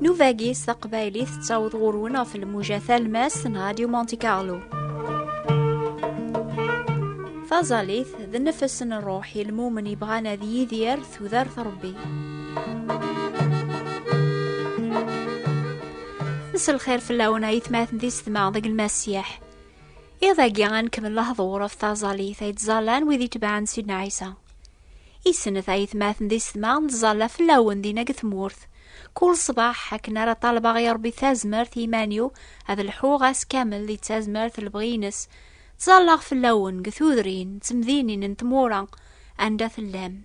Nuvagi s taqbaylit tettaweḍ ɣur-wen ɣef lmuja talmas n Radio Monte Carlo. Taẓalit d nnefs n ṛṛuḥ i lmumen yebɣan ad yidir tudert Ṛebbi. Nesselxir fell-awen ayetmaten di setma deg lmasiḥ. Iḍ agi ad nkemmel lehḍur ɣef taẓallit ay ttẓallan wid itebɛen Sidna Ɛisa. Isnet ayetmaten di setma nettẓalla fell-awen dinna deg tmurt. Kul ṣṣbeḥ akken ara ṭalbeɣ i Ṛebbi tazmert i iman-iw ad lḥuɣ ass kamel di tazmert d lebɣi-nnes. Ttẓallaɣ fell-awen deg tudrin d temdinin n tmura anda tellam.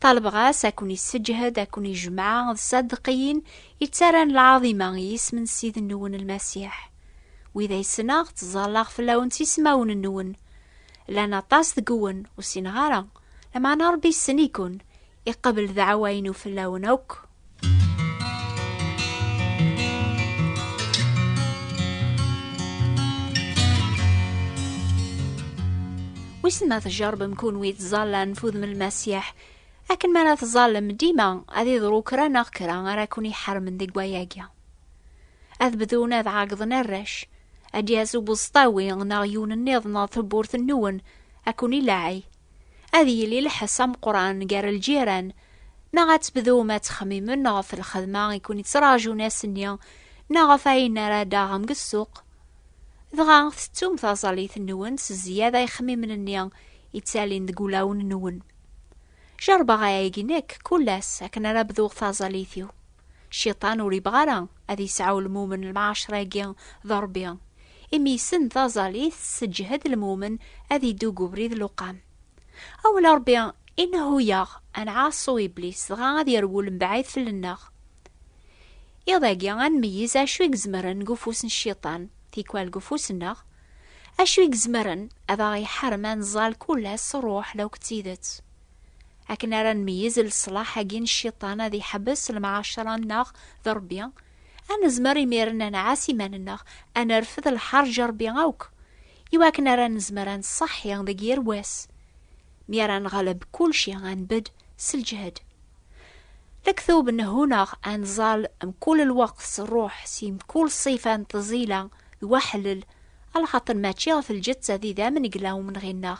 Ṭalbeɣ-as ad ken-isseǧhed, ad ken-ijmeɛ d ṣṣadeqiyin yettarran lɛaḍima i yisem n Ssid-nwen Lmasiḥ. Wid ay ssneɣ ttẓallaɣ fell-awen s ismawen-nwen. Llan aṭas deg-wen ur ssineɣ ara, lameɛna Ṛebbi yessen-iken, iqebbel ddeɛwa-inu fell-awen akk. Wissen ma tjerrbem kunwi tẓallan f udem n Lmasiḥ, akken mi ara tẓallem dima ad iḍru kra neɣ kra ara ken-iḥermen deg wayagi. ad bdun ad ɛagḍen arrac ad d-yas ubeẓṭawi neɣ yiwen nniḍen ɣer tewwurt nwen ad ken-ilaɛi ad yili lḥess ameqran gar lǧiran neɣ ad tebdum ad txemmimen ɣef lxedma i ken-ittraǧun ass-nni neɣ ɣef ayen ara d-aɣem deg ssuq dɣa tettum taẓallit nwen s zzyada ixemmimen-nni ittalin deg ulawen nwen. Jerbeɣ ayagi nekk kull ass akken ara bduɣ taẓallit-iw. Cciṭan ur yebɣa ara ad yesɛu lmumen lmɛacra-agi d Ṛebbi, imi yessen taẓallit tesseǧhed lmumen ad iddu deg ubrid luqam. Awal n Ṛebbi inehhu-yaɣ ad nɛaṣu Iblis dɣa ad yerwel mebɛid fell-nneɣ. Iḍ-agi ad nmeyyez acu i izemren deg ufus n Cciṭan, tikwal deg ufus-nneɣ, acu i izemren ad aɣ-iḥarem ad nẓall kul ass s ṛṛuḥ law d tidet. akken ara nmeyyez leṣlaḥ-agi n cciṭan ad iḥbes lemɛacara-nneɣ d Ṛebbi, ad nezmer imiren ad nɛass iman-nneɣ, ad nerfed lḥerǧ n Ṛebbi akk, i wakken ara nezmer ad nṣeḥḥi deg yir wass. Mi ara neɣleb kulci, ad nbedd s lǧehd. Lektub n Huneɣ, ad nẓall mkul lweqt s ṛṛuḥ, si mkul ṣṣifa n tẓila d waḥellel, alaxaṭer mačči ɣef lǧetta d idammen i yella umenɣi-nneɣ,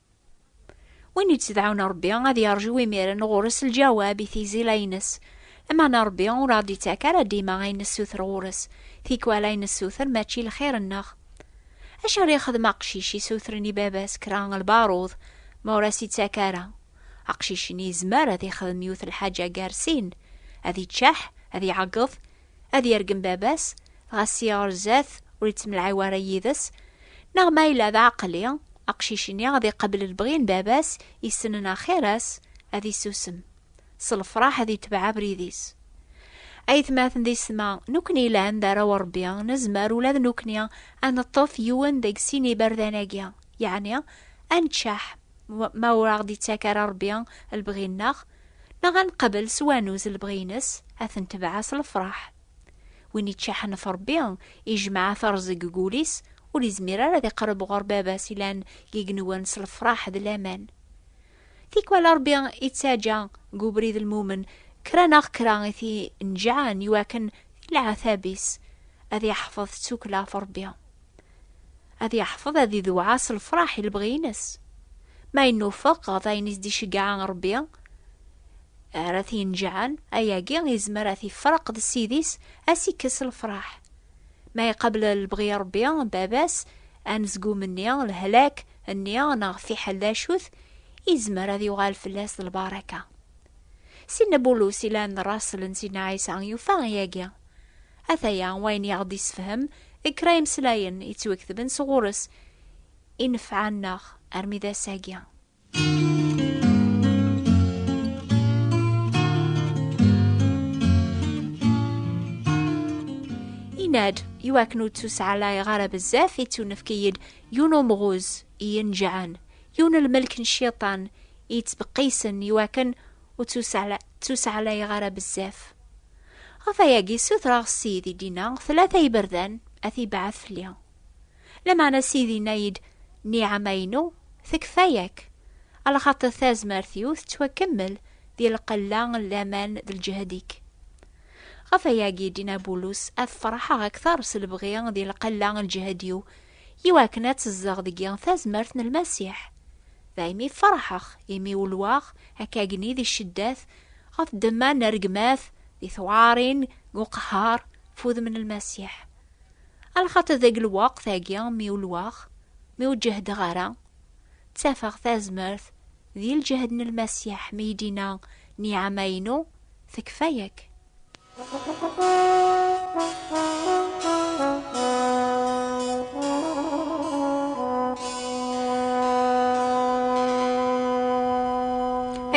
Win yettdɛun Ṛebbi ad yeṛju imiren ɣur-s lǧawab i tizila-ines. Lameɛna Ṛebbi ur aɣ-d-ittak ara dima ayen nessuter ɣur-s, tikwal ayen nessuter mačči lxir-nneɣ. Acu ara yexdem aqcic isutren i baba-s kra n lbaṛud ma ur as-ittak ara? Aqcic-nni yezmer ad yexdem yiwet lḥaǧa gar sin, ad iččeḥ, ad iɛeggeḍ, ad yergem baba-s, ɣas i ɣerzat ur ittemlɛiw ara yid-s, neɣ ma yella d aɛeqli, aqcic-nni ad iqabel lebɣi n baba-s yessnen axir-as, ad isusem, s lefraḥ ad itbeɛ abrid-is. Aytmaten d yessetma nukni yelhan d arraw n Rebbi, nezmer ula d nukni ad neṭṭef yiwen deg sin iberdan-agi, yeɛni ad neččeḥ ma ur aɣ-d-ittak ara Rebbi lebɣi-nneɣ, Neɣ ad neqbel s wanuz lebɣi-ines, ad t-netbeɛ s lefraḥ. Win iččaḥen ɣef Rebbi, ijmeɛ aterẓeg deg wul-is, ur izmir ara ad iqreb ɣur Baba-s ilan deg igenwan s lefraḥ d laman. Tikwal Rebbi ittaǧǧa deg ubrid lmumen kra neɣ kra i t-ineǧǧɛen iwakken di leɛtab-is ad iḥfeḍ ttukkla ɣef Rebbi. Ad yeḥfeḍ ad idewɛa s lefraḥ i lebɣi-ines. Ma yennufeq ɣef ayen i s-d-iceggeɛ Rebbi ara t-yenǧɛen, ayagi yezmer ad t-ifreq d ssid-is, ad s-ikkes lefraḥ. Ma iqabel lebɣi n Rebbi, baba-s, anezgum-nni, lehlak, nni neɣ fiḥel d acu-t, yezmer ad yuɣal fell-as d lbaraka. Sidna Bulus yellan d rrasel n Sidna Ɛisa yufa ayagi. Ataya wayen i aɣ-d-issefhem deg kra imeslayen yettwaketben sɣur-s, i nefɛa-nneɣ armi d ass-agi. Yenna-d, i wakken ur ttuseɛlayeɣ ara bezzaf, ittunefk-iyi-d yiwen umɣuz i yenǧɛen, yiwen lmelk n cciṭan i yettbeqqisen i wakken ur ttusaɛlayeɣ ara bezzaf. Ɣef ayagi ssutreɣ s Sidi Dina tlata iberdan ad t-ibɛat fell-i. Lameɛna Sidi yenna-yi-d niɛama-inu tekfa-yak, alaxaṭer tazmert-iw tettwakemmel di lqella n laman d lǧehd-ik. Ɣef ayagi Dina Bulus ad ferḥeɣ akteṛ s lebɣi di lqella n lǧehd-iw Iwakken ad tezdeɣ deg-i tazmert n Lmasiḥ. Daymi ferḥeɣ, imi ulwaɣ akkagni di cceddat, ɣef ddemma n rregmat, di tewɛarin, deg uqehhar, ɣef udem n Lmasiḥ. Alxaṭer deg lweqt-agi mi ulwaɣ, mi ur ǧehdeɣ ara, ttafeɣ tazmert di lǧehd n Lmasiḥ mi yi-d-yenna, Nniɛama-inu tekfa-ak.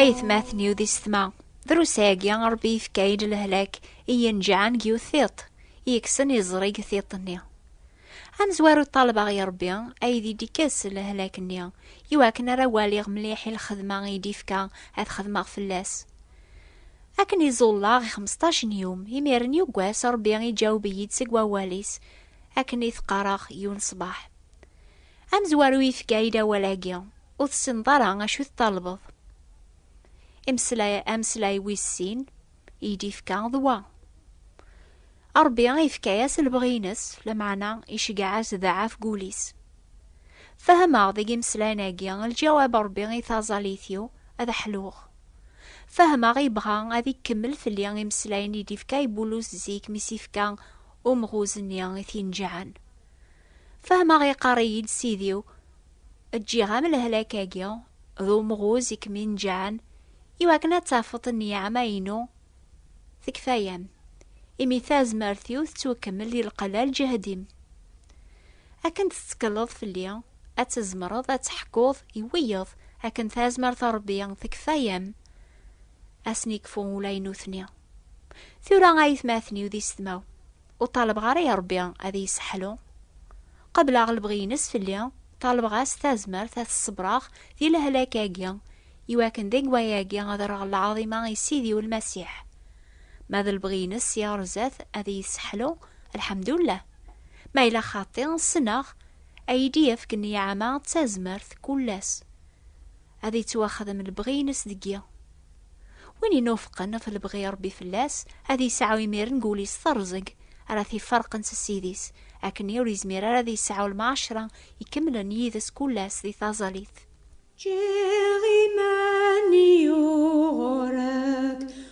aytmaten yud i setma drus-agi ṛebbi yefka-yi-d lehlak i yenǧeɛen deg yiwet tiṭ yekksen iẓri deg tiṭ-nni amezwaru ṭṭalbeɣ i ṛebbi ay di d-ikkes lehlak-nni iwakken ara waliɣ mliḥ i lxedma i d-ifka ad xedmeɣ fell-as Akken i ẓullaɣ i xmesṭac n yum, imiren yuggas Rebbi iǧaweb-iyi-d seg wawal-is, akken i t-qqareɣ yun ṣṣbeḥ. Amezwaru yefka-yi-d awal-agi, ur tessineḍ ara acu t-talbeḍ. Imeslay, ameslay wis sin i yi-d-yefka d wa. Ṛebbi ifka-yas lebɣi-ines, lameɛna iceggeɛ-as daɛɛa f gul-is. Fehmeɣ deg imeslayen-agi lǧawab Ṛebbi i taẓallit-iw, ad ḥluɣ. Fehmeɣ ibɣa ad ikkemmel fell-i imeslayen i d-ifka i Bulus zik mi s-ifka umɣuz-nni i t-ineǧǧɛen. Fehmeɣ iqqar-iyi-d Sidi-w, Ǧǧiɣ-am lehlak-agi d umɣuz i kem-ineǧǧɛen, iwakken ad tafeḍ nniɛama-inu Tekfa-yam, imi tazmert-iw tettwakemmel di lqella lǧehd-im. Akken tettekleḍ fell-i, ad tzemreḍ ad teḥkuḍ i wiyeḍ akken tazmert n Rebbi tekfa-yam, asen ikfu ula i nutni. Tura ay atmaten-iw d isetma-w, Ur ṭalbeɣ ara i Ṛebbi ad iyi-sseḥlu. Qebleɣ lebɣi-ines fell-i, ṭalbeɣ-as tazmert ad t-ṣebreɣ di lehlak-agi, i wakken deg wayagi ad rreɣ lɛaḍima i Sidi u Lmasiḥ. Ma d lebɣi-ines si ɣer zdat ad iyi-sseḥlu, lḥemdullah. Ma yella xaṭi, ssneɣ, ad iyi-d-yefk nniɛama d tazmert kul ass. Ad yettwaxdem lebɣi-ines deg-i. Win inuffqen ɣef lebɣi i Rebbi fell-as, ad yesɛu imiren deg wul-is terẓeg ara t-iferqen s Ssid-is, akkenni ur yezmir ara ad yesɛu lmɛacra ikemlen yid-s kul ass di taẓalit. Ǧǧiɣ iman-iw ɣur-k.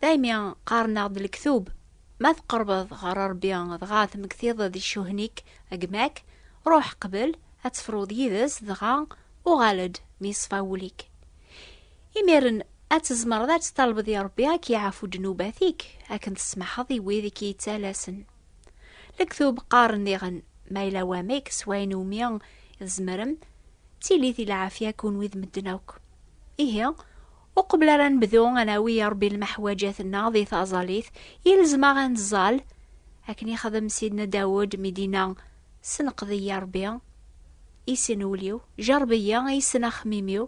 Daymi qqaren-aɣ-d lektub, ma tqerbeḍ ɣer Rebbi dɣa tmektiḍ di ccuhn-ik a gma-k, ruḥ qbel ad tefruḍ yid-s dɣa uɣal-d mi yeṣfa wul-ik. Imiren ad tzemreḍ ad tṭalbeḍ i Rebbi ad k-yeɛfu ddnubat-ik akken tessmaḥeḍ i wid i k-yettalasen. Lektub qqaren diɣen, Ma yella wamek s wayen iwumi i tzemrem, tili-t i lɛafya kunwi d medden akk. Ihi, Uqbel ara nebdu ad nawi a Ṛebbi lmeḥwaǧat-nneɣ di taẓalit, ilzem-aɣ ad neẓẓal, akken ixdem Sidna Dawed mi d-inna, Senqed-iyi a Ṛebbi, i sin ul-iw, jerreb-iyi, i sin axemmim-iw,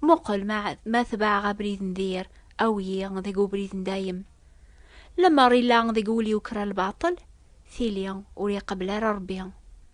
muqel ma ma tebɛeɣ abrid n dir, awi-yi deg ubrid n dayem. Lemmer illa deg wul-iw kra lbaṭel, tili ur iqebbel ara Ṛebbi.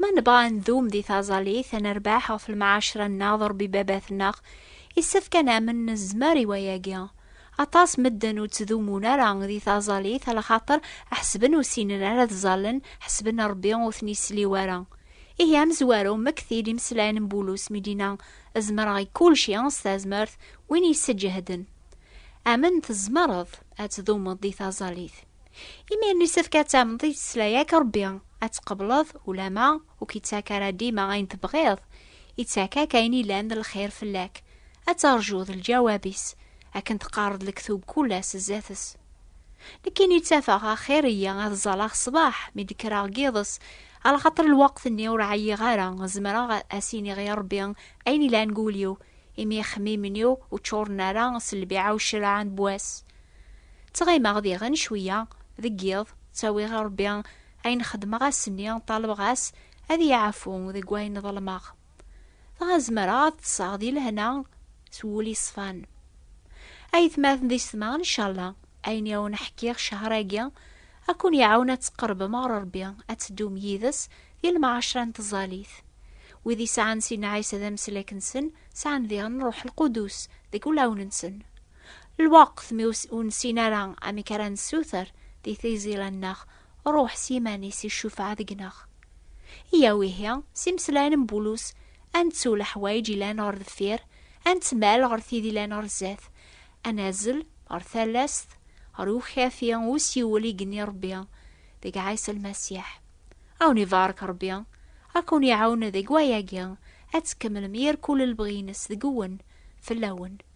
Ma nebɣa ad ndum di taẓalit, ad nerbeḥ ɣef lmɛacra-nneɣ d Ṛebbi Baba-tneɣ, yessefk ad namen nezmer i wayagi. Aṭas medden ur ttdummun ara di taẓalit alaxaṭer ḥesben ur sinen ara ad ẓallen, ḥesben Ṛebbi ur ten-isliw ara. Ihi amezwaru, mmekti-d imeslayen n Bulus mi d-yenna, Zemreɣ i kulci s tazmert win i yi-sseǧehden. Amen tzemreḍ ad tdumeḍ di taẓalit. Imir-nni yessefk ad tamneḍ i yettesla-ak Rebbi, ad tqebleḍ ulama ur k-ittak ara dima ayen tebɣiḍ, ittak-ak ayen ilan d lxir fell-ak, ad terjuḍ lǧawab-is, akken teqqareḍ lektub kul ass zdat-s. Nekkini ttafeɣ axir-iyi ad ẓẓaleɣ ṣṣbeḥ mi d-kkreɣ n yiḍes, alaxaṭer lweqt-nni ur ɛyiɣ ara, zemreɣ ad as-iniɣ i Rebbi ayen ilan deg wul-iw, imi ixemmimen-iw ur ččuren ara s lbiɛa u ccreɛ n wass. Ttɣimeɣ diɣen cwiya, deg yiḍ, ttawiɣ i Rebbi ayen xedmeɣ ass-nni, ṭalbeɣ-as ad iyi-iɛfu deg wayen ḍelmeɣ, dɣa zemreɣ ad ṭṭseɣ di lehna s wul yeṣfan. Aytmaten d isetma, ncalla ayen i awen-ḥkiɣ ccehṛ-agi ad ken-iɛawen ad tqerbem ɣer Rebbi, ad teddum yid-s di lemɛacṛa n tẓallit. Wid i sɛan sin Ɛisa d ameslak-nsen, sɛan diɣen Ṛṛuḥ Lqudus deg wulawen-nsen. Lweqt mi ur nessin ara amek ara nessuter di tizilan-nneɣ, Ṛuḥ s yiman-is iccufeɛ deg-neɣ. Yyaw ihi, s imeslayen n Bulus, ad nettu leḥwayeǧ yellan ɣer deffir, ad nettmal ɣer tid yellan ɣer zdat, ad nazzel ɣer talast, ɣer ukafi n usiwel i genni Ṛebbi deg Ɛisa Lmasiḥ. Ad wen-ibarek Ṛebbi, ad ken-iɛawen deg wayagi, ad tkemmlem yir kul lebɣi-ines deg-wen, fell-awen.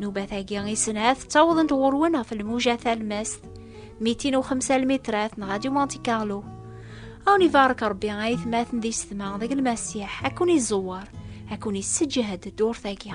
Nubat-agi i snat ttawḍent ɣur-wen ɣef lmuja talmast 205 lmitrat n Radio Monte Carlo. Awen ibarek Rebbi ay tmaten di setma deg lmasiḥ ad kun iẓewwer ad kun isseǧhed ddurt-agi.